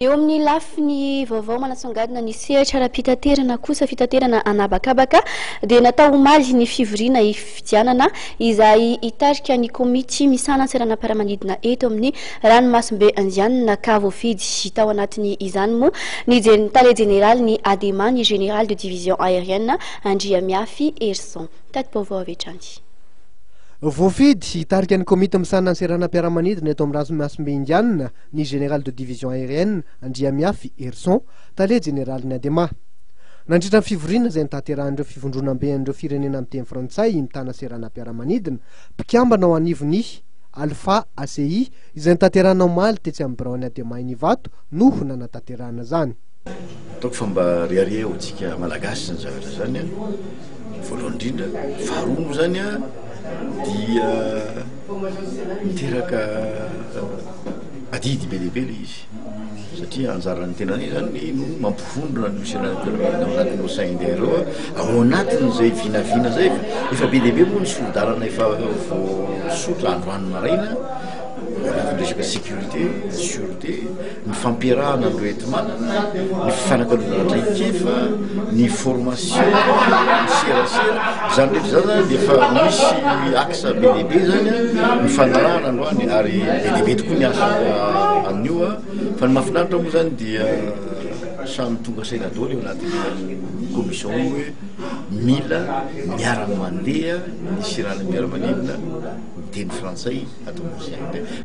Eo amin'ny lafiny vaovao manasongadina ny sehatra ara-pitaterana kosa, fitaterana an'habakabaka dia natao omaly ny fivoriana hifidianana izay hitarika ny komity misahana ny seranam-piaramanidina eto amin'ny ranomasimbe indianina ka voafidy tao anatin' izany moa ny tale jeneraly ny Adema ny Général de division aérienne Andriamiafy Herison. Tati-baovao avy hatrany. Voafidy hitarika ny komity misahana ny seranam-piaramanidina eto amin'ny ranomasimbe indianina ny Général de Division Aérienne Andriamiafy Herson, Tale Jeneralin'ny Adema. Nandritra ny fivoriana izay nitaterahan'ireo fivondronamben'ireo firenena miteny frantsay mitana seranam-piaramanidina mpikambana ao anivon'ny Alpha ACI izay notanterahina omaly tetsy amin'ny biraon'ny Adema eny Ivato no nanatanterahana izany. Ataoko fa mba riaria ho tsika malagasy zany zavatra zany a, voalohany indrindra, faharoa moa zany a dia miteraka Adidy be dia be ilay izy satria anjaran'ny tenanay izany no mampivondrona ny missionnaires intermédiaires ao anatin'ny OCIND ireo ao anatin'izay vinavina izay fa efa be dia be moa ny solon-dalana efa voasotra androany maraina anatin'ny resaka sécurité, sûreté, ny fampiarahana an'ireo enti-manana, ny fifanakalozana traikefa, ny formation, ny serasera, izany rehetra izany dia efa misy axe. Asa be dia be izany an, ny fanarahana androany ary be dia be tokoa ny asa amin'io an, fa ny mahafinaritra moa izany dia samy tonga saina daholo eo anatin'ny commission io hoe mila miara-mandeha ny siranompiaramanidina ny teny frantsay ato Mozambique.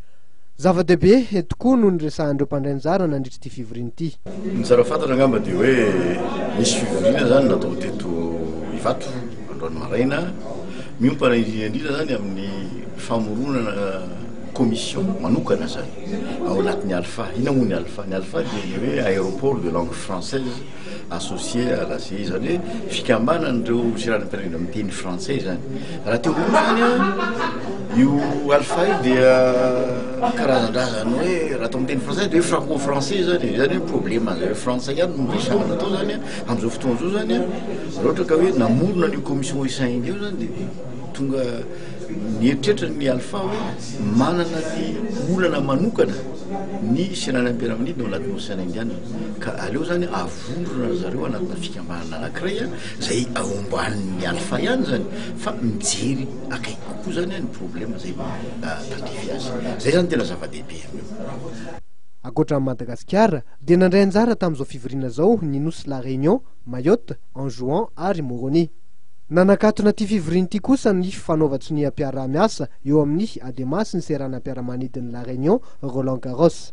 Zava-dehibe tokoa no niresahan'ireo mpandray anjara nandritra ity fivoriana ity. Ny tsara fantatra angamba dia hoe nisy fivoriana izany natao teto Ivato. Androany maraina, miompana indrindra indrindra izany amin'ny famoronana commission manokana izany ao anatin'ny Alpha. Inona moa ny Alpha? Ny Alpha dia ny hoe aéroport de langue française associé à la CI, izany hoe fikambanan'ireo seranam-pirenena miteny frantsay izany. Raha teo voalohany an, io Alpha io dia karazan-drazany hoe raha atao miteny frantsay dia hoe franco-français izany, izany hoe problème an'izay hoe frantsay ihany no resahana atao izany an, amin'izao fotoana izao izany an. Raha ohatra ka hoe namorona an'io commission au sein io zany dia tonga nieritreritra ny Alpha hoe manana ny olana manokana ny Senan'ny Ampiaraminidina ao anatin'ny Ocean Indian ka aleo zany avondrona ry zareo anatina fikambanana anankiray izay ao ambanin'ny Alpha ihany zany fa mijery akaiky kokoa zany ny problème izay tandrify azy. Izay zany tena zava-dehibe amin'io. Ankoatra an'i Madagasikara, dia nandray anjara tamin'izao fivoriana izao ny nosy La Réunion, Mayotte, Anjouan ary Moroni. Nanakatona ity fivoriana ity kosa ny fanaovan-tsoniam-piaraha-miasa eo amin'ny Adema sy ny seranam-piaramanidin'i La Réunion, Roland Garros.